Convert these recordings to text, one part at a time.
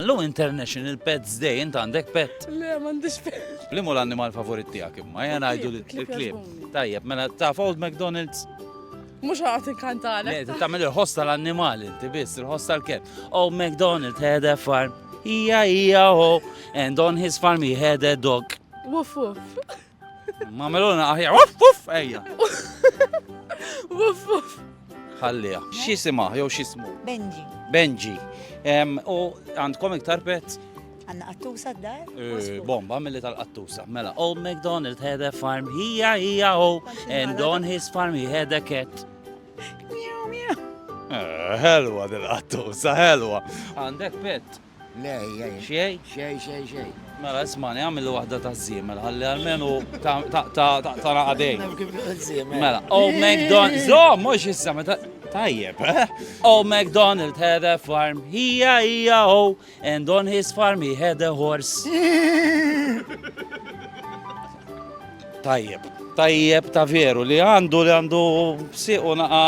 Lu International Pets Day, int għandek pet? Le, m'għandix pet. Li mu l-annimal favorit tiegħek imma, jgħan għajdu l-klib. Tajjeb, mela taf Old McDonald's? Mux għat inkantale. Le, tamil il-ħoss tal-annimal inti biss, il-ħoss tal-ket. Old McDonald had a farm, ija ija ho, and on his farm he had a dog. Wuff wuff. Ma meluna aħja, uff, uff, ejja. Uff, uff. Ħallija. Xisima, jew xismu? Benji. Benji. U għandkom iktar pet? Għanna qattusa d-dar? Eh, bomba mill tal-qattusa. Mela, Old McDonald had a farm, hija, hija, oh, and on his farm he had a cat. Miu, miu. Eh, helwa dil-qattusa, helwa. Għandek pet? Le, jgħin. Xej? Xej, xej, xej. Mela, ismani, għamillu wahda ta' zimel, għalli għalmenu ta' ta' ta' ta' ta' naqadej. Mela, oh McDonald, zo, mux issa, meta. Tajjeb, eh? Oh McDonald had a farm, hija hija oh, and on his farm he had a horse. Tajjeb, tajjeb ta' veru li għandu li għandu siqu naqa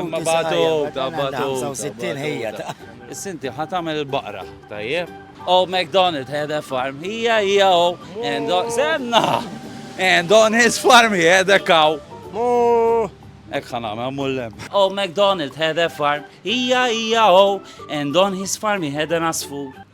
ma batu ta' batu. 65 ħija ta' Sinti ħat għamel il-baqra, tajjeb. Oh, McDonald had a farm, hija hija oh, and on, senna! And on his farm he had a cow. Ek ħana ma mullem. Oh, McDonald had a farm, hija hija oh, and on his farm he had an asfur.